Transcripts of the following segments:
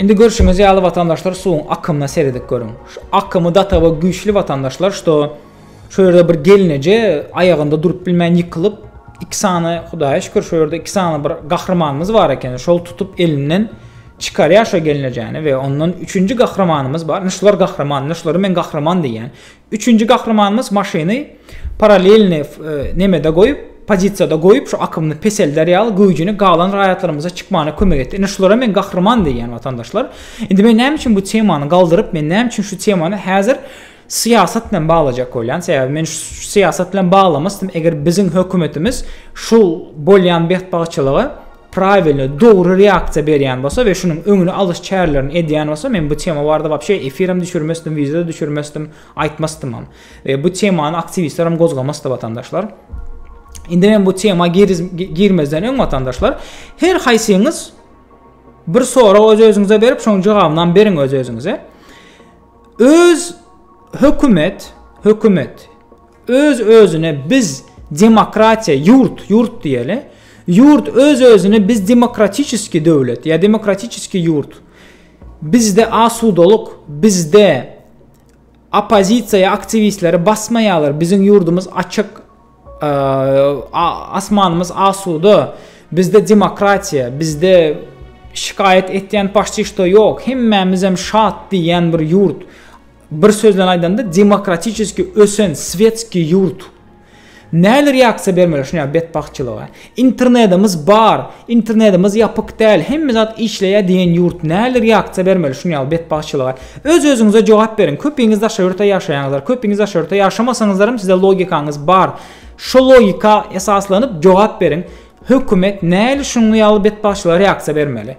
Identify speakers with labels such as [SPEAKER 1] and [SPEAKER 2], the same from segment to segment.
[SPEAKER 1] Indi görşüňiz ýaly watandaşlar suwuň akymyna seredip görüň. Şu akymy datawa güýçli watandaşlar, şdo Şu ýerde bir gelneje aýagynda durup bilmän ýykylyp, iki sany, Hudaýa şükür, şu ýerde iki sany bir gahrymanymyz bar eken. Şol tutup elinden çykarýar şo gelnejäni we ondan üçünji gahrymanymyz bar. Ine şular gahryman, ine şulara men gahryman diýýän. Üçünji gahrymanymyz maşyny paralelni e, nemede goýup, pozisiýada goýup, şu akymyny peselder ýaly güýjüni galan raýatlarymyza çykmana kömek etdi. Ine şulara men gahryman diýýän watandaşlar. Indi men näme üçin bu temany galdyryp, men näme üçin şu temany häzir Syýasat bilen baglajak bolýan sebäbi men syýasat bilen baglamasdym eger biziň hökümetimiz şu bolýan betbagtçylyga prawilno dogry reaksiýa berýän bolsa we şunuň öňüni alyş çärelerini edýän bolsa men bu tema barada wapşe efirem düşürmesdim wideo düşürmesdim aýtmasdymam we bu temany aktiwistlerem gozgamasdy watandaşlar indi men bu tema girmezden öň watandaşlar her haýsyňyz bir sorag öz özüňize berip şoň jogabynam beriň öz özüňize Öz hökümet, hökümet, öz-özüne biz demokratiýa, ýurt, ýurt diýeli, ýurt öz-özüne biz demokratiçeskiý döwlet ýa demokratiçeskiý ýurt, bizde asudalyk, bizde oppozisiýa ýa aktiwistleri basmaýarlar, biziň ýurdumyz açyk, Asmanymyz asuda. Bizde demokratiýa, bizde şikaýat etýän paşçy şto ýok. Hemmämizem şat diýýän bir ýurt. Bir söz bilen aýdanda demokratiçeski ösen svetski ýurt. Näler ýaksa bermeli şuňa betbagtçylyga. Internedimiz bar, internedimiz ýapyk däl, hemme zat işleýär diýen ýurt nähili reaksiýa bermeli şuny ýaly betbagtçylyga? Öz özüňize jogap beriň, köpiňiz daşary ýurtda ýaşaýaňyzlar, köpiňiz daşary ýurtda ýaşamasaňyzlaram size logikaňyz bar, şo logika esaslanyp jogap beriň, hökümet nähili şuňňy ýaly betbagtçylyga reaksiýa bermeli?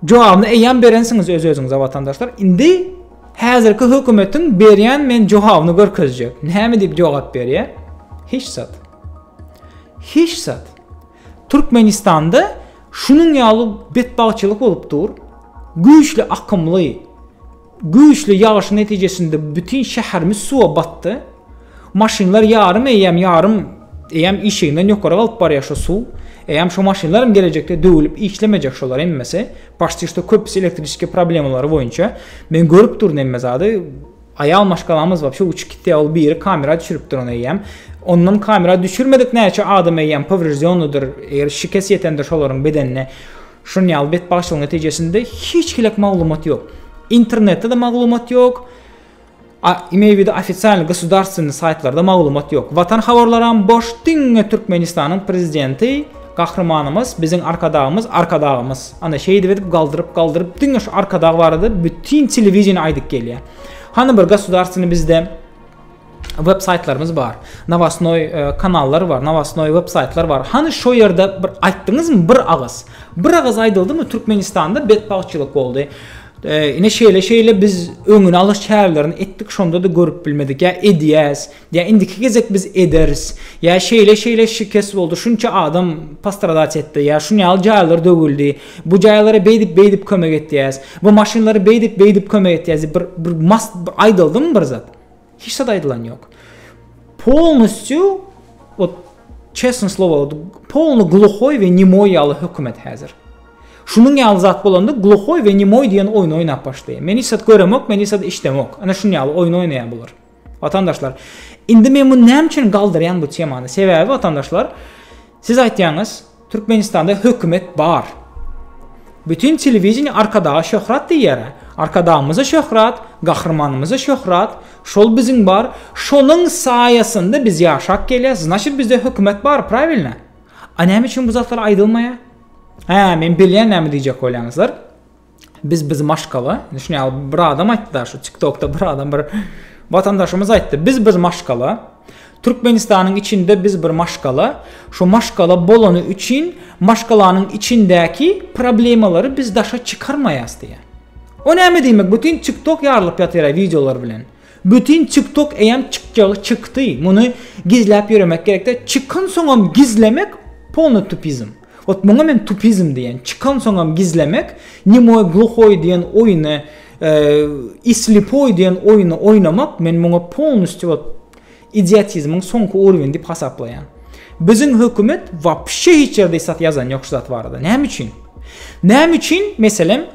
[SPEAKER 1] Jogabyny eýýäm berensiňiz öz özüňize watandaşlar. Indi häzirki hökümetiň berýän men jogabyny görkezjek. Näme diýip jogap berýär? Hiç zat. Hiç zat. Türkmenistanda şunuň ýaly betbagtçylyk bolup dur. Güýçli akymly Güýçli ýagyşyň netijesinde bütin şäherimiz suwa batdy. Maşynlar ýarym eýýäm, ýarym eýýäm işiginden ýokary galyp barýar şu suw. Eýýäm şu maşynlar hem gelejekde döwülip işlemejek şolar hemmesi. Paşti şto köpüsi elektriçeskiý problemalary boýunça. Men görüp durun hemme zady. Aýal maşgalamyz wapşe uçup gitýär, ol biri kamera düşüripdir ony eýýäm. Ondan kamera düşürmedik näçe adam eýýäm powreždýonnydyr, eger şikes ýetendir şolaryň bedenine. Şuny ýaly betbagtçylygyň netijesinde hiç hili maglumat ýok. Internetde-de maglumat ýok. A, imeýwide ofisial gosudarstweniý saýtlarda maglumat ýok. Watan habarlaram boş, diňe Türkmenistanyň prezidenti, gahrymanymyz, biziň arkadagymyz, arkadagymyz. Ana şeýdip edip galdyryp, galdyryp diňe şu arkadag barada bütin telewideniýe aýdyp gelýär. Hany bir gosudarstweniý bizde web saýtlarymyz bar. Nawasnoý e, kanallar bar, nawasnoý web saýtlar bar. Hany şo ýerde bir aýtdyňyzmy bir agyz? Bir agyz aýdyldymy Türkmenistanda betbagtçylyk boldy. E, ine şeýle şeýle biz öňüni alyş çärelerini etdik, şonda-da görüp bilmedik. Ýa edýäs, ýa indiki gezek biz ederis. Ýa şeýle şeýle şikes boldy, şunça adam postradat etdi, ýa şuny ýaly jaýlar döwüldi. Bu jaýlara beýdip beýdip kömek etýäs. Bu maşynlary beýdip beýdip kömek etýäs. Bir bir mas aýdyldymy bir zat? Hiç zat aýdylan ýok. Polnusçu ot çesn slowa polnu gluhoy we nemoy ýaly hökümet häzir. Şunuň ýaly zat bolanda gluhoy we nemoy diýen oýun oýnap başlaýar. Men hiç zat göremok, men hiç zat işdemok. Ana şunuň ýaly oýun oýnaýar bular. Watandaşlar, indi men muny näme üçin galdyrýan bu temany? Sebäbi watandaşlar, siz aýtýaňyz, Türkmenistanda hökümet bar. Bütin telewideniýe Arkadaga şöhrat diýýär. Arkadagymyza şöhrat, gahrymanymyza şöhrat, şol biziň bar, şonuň saýasynda biz ýaşap gelýäs, znaçit bizde hökümet bar, prawilno? A näme üçin bu zatlar aýdylmaýar? Hä, men bilýän näme diýjek bolýaňyzlar. biz biz maşgala indi şuny al bir adam aýtdy da şu tiktokda bir adam bir watandaşymyz aýtdy biz biz maşgala Türkmenistanyň içinde biz bir maşgala şu maşgala bolany üçin maşgalanyň içindäki problemalary biz daşa çykarmaýas diýýär. O näme diýmek bütün tiktok ýarylyp ýatyra wideolar bilen. Bütün tiktok eýem çykjagy çykdy. Muny gizläp ýöremek gerekde. Çykan soňam gizlemek polny tupizm. Ot muňa men tupizm diýen. Çykansoňam gizlemek, nemoý gluhoý diýen oýny, i slipoý diýen oýny oýnamak men muňa polnusty ot idiotizmiň soňky urwini diýip hasaplaýan. Biziň hökümet wapşe hiç ýerde isat ýazan ýok şu zat barada. Näme üçin? Näme üçin meselem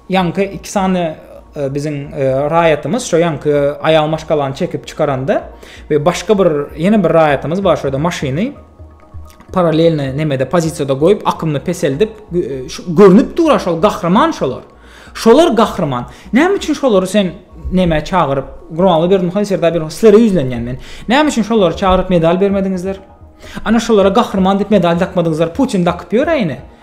[SPEAKER 1] Ýaňky iki sany biziň raýatymyz şo ýaňky aýal maşgalany çekip çykaranda we başga bir ýene bir raýatymyz bar şurada maşyny paralelni nemede pozisiýada goýup akymny peseldip görnüp dur şol gahryman şolar şolar gahryman näme üçin şolary sen neme çagyryp gurbanly berdim haýsy ýerde bir sizlere ýüzlenýän men näme üçin şolary çagyryp medal bermediňizler ana şolara gahryman diýip medal dakmadyňyzlar putin dakyp ýör äýne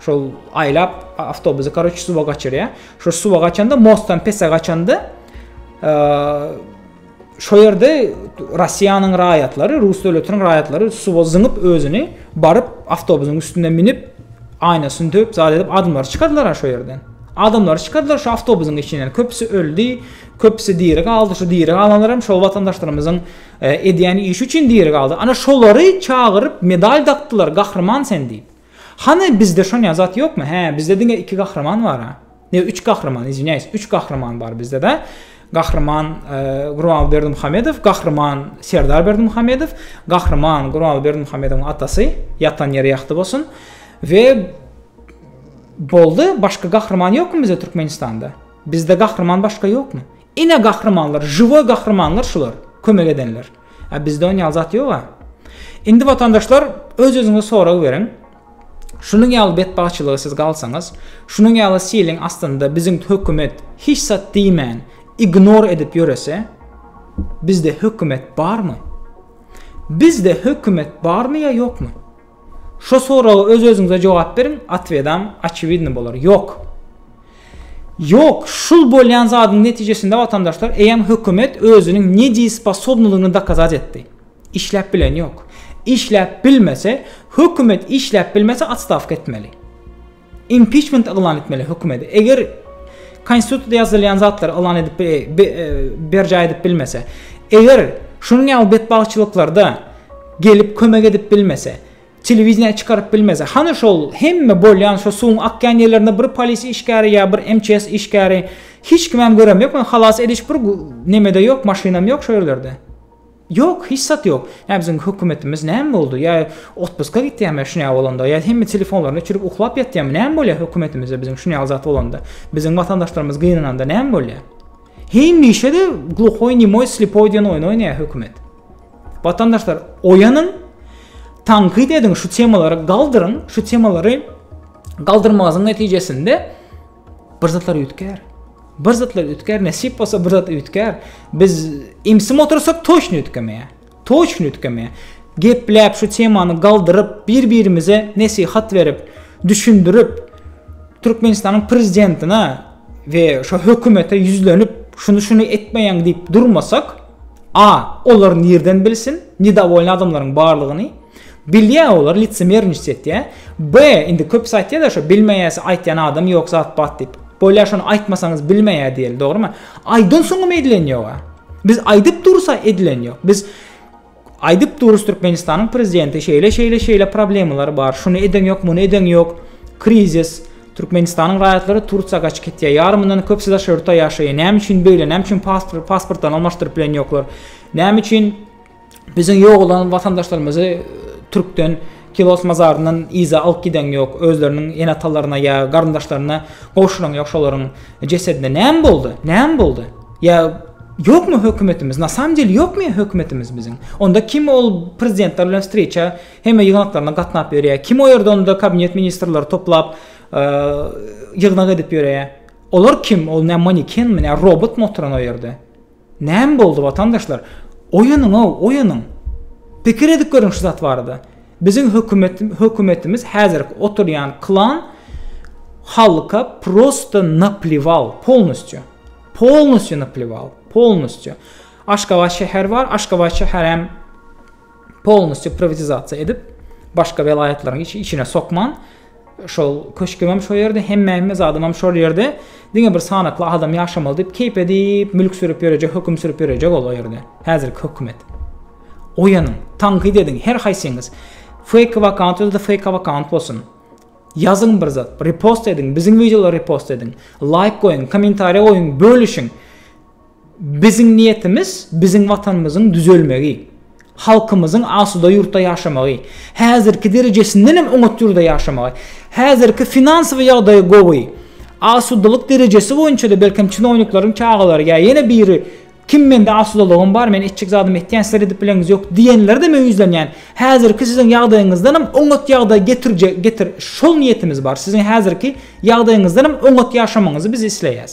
[SPEAKER 1] Şol aýlap awtobusy karoç suwa gaçyrýar. Şo suwa gaçanda mostdan pese gaçanda şo ýerde Russiýanyň raýatlary, rus döwletiniň raýatlary suwa zyňyp özüni baryp awtobusyň üstüne minip aýnasyny döp zat edip adamlar çykardylar şo ýerden. Adamlar çykardylar şu awtobusyň içinden. Köpüsi öldi, köpüsi diri galdy. Şu diri galanlar hem şol watandaşlarymyzyň e, edýän işi üçin diri galdy. Ana şolary çagyryp medal dakdylar, gahryman sen diýip. Hany bizde şonýa zat ýokmy hä bizde diňe iki gahryman bara ne üç gahryman izwinýaýs üç gahryman bar bizde da gahryman Gurbanguly Berdimuhamedow gahryman Serdar Berdimuhamedow gahryman Gurbanguly Berdimuhamedowyň atasy ýatan ýeri ýagty bolsun we boldy başga gahryman ýokmy bizde Türkmenistanda bizde gahryman başga ýokmy Ine gahrymanlar žiwoý gahrymanlar şular kömek edenler a bizde on ýaly zat ýoga indi watandaşlar öz özüňize sorag beriň şunuň ýaly betbagtçylyga siz galsaňyz şunuň ýaly siliň astynda biziň hökümet hiç zat diýmän ignor edip ýörese bizde hökümet barmy bizde hökümet barmy ýa ýokmy Şo soraga öz özüňize jogap beriň, otwedam oçewidny bolar. Ýok. Ýok, şul bolýan zadyň netijesinde watandaşlar eýýäm hökümet özüniň nedýesposobnylygyny dokazat etdi. Işläp bileni ýok. Işläp bilmese, hökümet işläp bilmese otstawka etmeli. Impiçment yglan etmeli hökümedi. Eger Konstitusiýada ýazylýan zatlary yglan edip e, e, berjaý edip bilmese, eger şunuň ýaly betbagtçylyklarda gelip kömek edip bilmese, telewideniýä çykaryp bilmese, hany şol hemme bolýan şu suwuň akýan ýerlerinde bir polis işgäri ýa bir MÇS işgäri hiç kimem göremok, halas ediş bir nemede ýok, maşynam ýok şu ýerlerde. Ýok, hiç zat ýok. Ýa biziň hökümetimiz näme boldy? Ýa otpuska gitýärmi şunýa bolanda? Ýa hemme telefonlaryny öçürip uklap ýatýarmy? Näme bolýar hökümetimizde biziň şunýaly zat bolanda? Biziň watandaşlarymyz gynananda näme bolýar? Hemişe-de gluhoý, nemoý, slepoý diýen oýny oýnaýar hökümet. Watandaşlar, oýanyň, tankyt ediň, şu temalary galdyryň, şu temalary galdyrmagyň netijesinde Bir zatlar üýtgär. Bir zatlar üýtgär, nesip bolsa bir zat üýtgär. Biz imsim otursak toýşun üýtgemeýär. Toýşun üýtgemeýär. Gepläp şu temany galdyryp, bir-birimize nesihat berip, düşündirip, Türkmenistanyň prezidentine we şu hökümete ýüzlenip, şuny-şuny etmeýäň diýip durmasak, a, olar nirden bilsin, nedawolyny adamlaryň barlygyny? Bilýä olar licemerniçt etýä. B indi köpüsi aýtýada şo bilmeýäsi aýtýan adam ýok zat bat diýip. Bolýa şony aýtmasaňyz bilmeýä diýeli dogrymy? Aýdan soňam edilen ýoga. Biz aýdyp dursa edilen ýok. Biz aýdyp durus Türkmenistanyň prezidenti şeýle şeýle şeýle problemalar bar. Şuny eden ýok, muny eden ýok. Krizis Türkmenistanyň raýatlary Tursiýa gaçyp gitýär. Ýarymyndan köpüsi daşary ýurtda ýaşaýar. Näme üçin beýle? Näme üçin pasportdan almaşdyryp bilen ýoklar? Näme üçin Biziň ýogalan watandaşlarymyzy türkden Kilos mazaryndan yza alyp giden ýok, özleriniň ene-atalaryna ýa garyndaşlaryna gowşuran ýok şolaryň jesedine. Näme boldy? Näme boldy? Ýa ýokmy hökümetimiz? Na samym deli ýokmy hökümetimiz biziň? Onda kim ol prezidentler bilen wstreça hemme ýygnaklaryna gatnap ýörýär? Kim o ýerde onda kabinet ministrleri toplap ýygnak edip ýörýär? Olar kim? Ol nä manikenmi, nä robotmy oturan o ýerde? Näme boldy watandaşlar? Oýanyňow, oýanyň! Pikir edip görüň şu zat barada. Biziň hökümet hökümetimiz häzirki oturýan klan halka prosta napliwal, polnusço. Polnusço napliwal, polnusço. Aşgabat şäher bar, Aşgabat şäher hem polnusty privatizasiýa edip başga welaýatlaryň hiç içine sokman şol köşkümem şo ýerde hemmäme zadymam şol ýerde diňe bir sanakly adam ýaşamaly diýip keýp edip mülk sürüp ýörejek höküm sürüp ýörejek ol o ýerde häzirki hökümet oýanyň tankyt ediň her haýsyňyz fake vakant özde fake vakant bolsun ýazyň bir zat repost ediň biziň wideolary repost ediň laýk goýuň kommentariýa goýuň bölüşiň Biziň niýetimiz biziň Watanymyzyň düzelmegi, halkymyzyň asuda ýurtda ýaşamagy, häzirki derejesinden hem oňat ýurda ýaşamagy. Häzirki finansowy ýagdaýy gowy. Asudalyk derejesi boýunça-da belkem çinownikleriň çagalary ýa ýene biri kim mende asudalygym bar, men etjek zadymy etýän, sizler edip bileňiz ýok diýenlerde meýüzlenýän. Häzirki siziň ýagdaýyňyzdan hem oňat ýagdaý getirjek getir şol niýetimiz bar. Siziň häzirki ýagdaýyňyzdan hem oňat ýaşamagyňyzy biz isleýäs.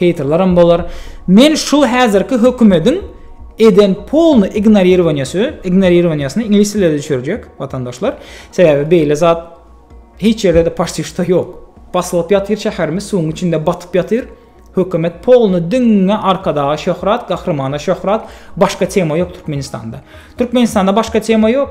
[SPEAKER 1] Heýterleram bolar. Men şu häzirki hökümediň eden polny ignorirowaniýasy, ignorirowaniýasyny iňlis dilinde düşürjek watandaşlar. Sebäbi beýle zat hiç ýerde-de paşti şda ýok. Basylyp ýatyr şäherimiz suwuň içinde batyp ýatyr. Hökümet polny diňňe Arkadaga şöhrat, Gahrymana şöhrat, başga tema ýok Türkmenistanda. Türkmenistanda başga tema ýok.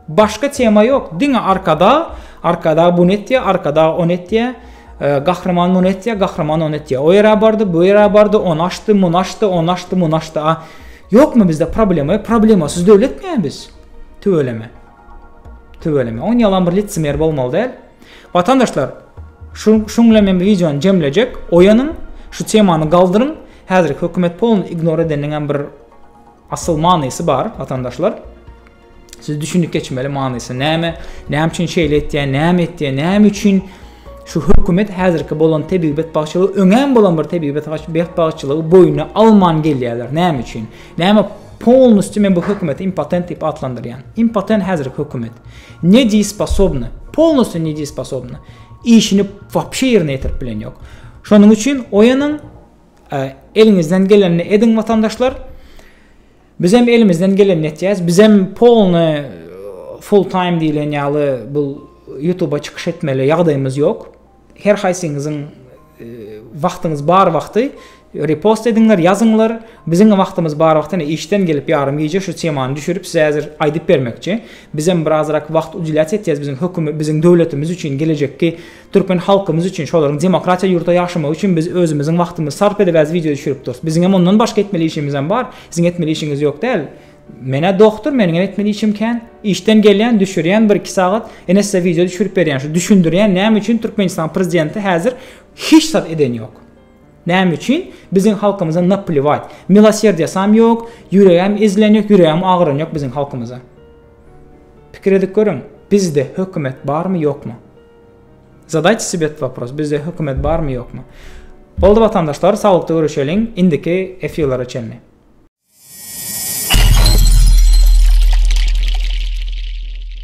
[SPEAKER 1] Başga tema ýok, diňe arkadag, arkadag buny etýär, arkadag ony etýär, gahryman muny etýär, gahryman ony etýär. O ýere bardy, bu ýere bardy, ony açdy, muny açdy, ony açdy, muny açdy. A ýokmy bizde problema? Ýok, problemasyz döwletmi biz? Tüweleme. Tüweleme. On ýalan bir litsimer bolmaly däl. Watandaşlar, şu şuň bilen men wideony jemlejek. Oýanyň, şu temany galdyryň. Häzirki hökümet polny ignor edeniň hem bir asyl manysy bar, watandaşlar. Siz düşünip geçmeli manysy näme? Näme üçin şeýle etýär? Näme etýär? Näme üçin şu hökümet häzirki bolan tebigat bagşylygy öňem bolan bir tebigat bagşylygy boýuna alman gelýärler? Näme üçin? Näme polnusty men bu hökümeti impotent diýip atlandyrýan. Impotent häzir hökümet. Ne diýip sposobny? Polnusty ne diýip sposobny? Işini wapşe ýerine ýetirip bilen ýok. Şonuň üçin oýanyň e, eliňizden gelenini ediň watandaşlar. Bizem elimizden gelenini etýäs. Bizem polny full time diýlen ýaly bu YouTube-a çykyş etmeli ýagdaýymyz ýok. Her haýsyňyzyň e, wagtyňyz bar wagty repost ediňler, ýazyňlar. Biziň wagtymyz bar wagtyny işden gelip ýarym gije şu temany düşürip size häzir aýdyp bermekçi. Bizem birazrak wagt udylat etýäs biziň hökümet, biziň döwletimiz üçin gelejekki Türkmen halkymyz üçin şolaryň demokratiýa ýurtda ýaşamagy üçin biz özümiziň wagtymyzy sarp edibäs wideo düşürip durus. Biziňem ondan başga etmeli işimizem bar. Siziň etmeli işiňiz ýok däl. Menä dogtur meniňem etmeli işim kän. Işden gelýän düşürýän bir iki sagat ene size wideo düşürip berýän şu düşündirýän näme üçin Türkmenistan prezidenti häzir hiç zat eden ýok. Näme üçin biziň halkymyza napliwat. Miloserdýasam ýok, ýüregem ezilen ýok, ýüregem agyran ýok biziň halkymyza. Pikir edip görüň bizde hökümet barmy ýokmy. Zadayte sebe et vopros bizde hökümet barmy ýokmy. Boldy watandaşlar saglykda görüşeliň indiki efirlere çenli.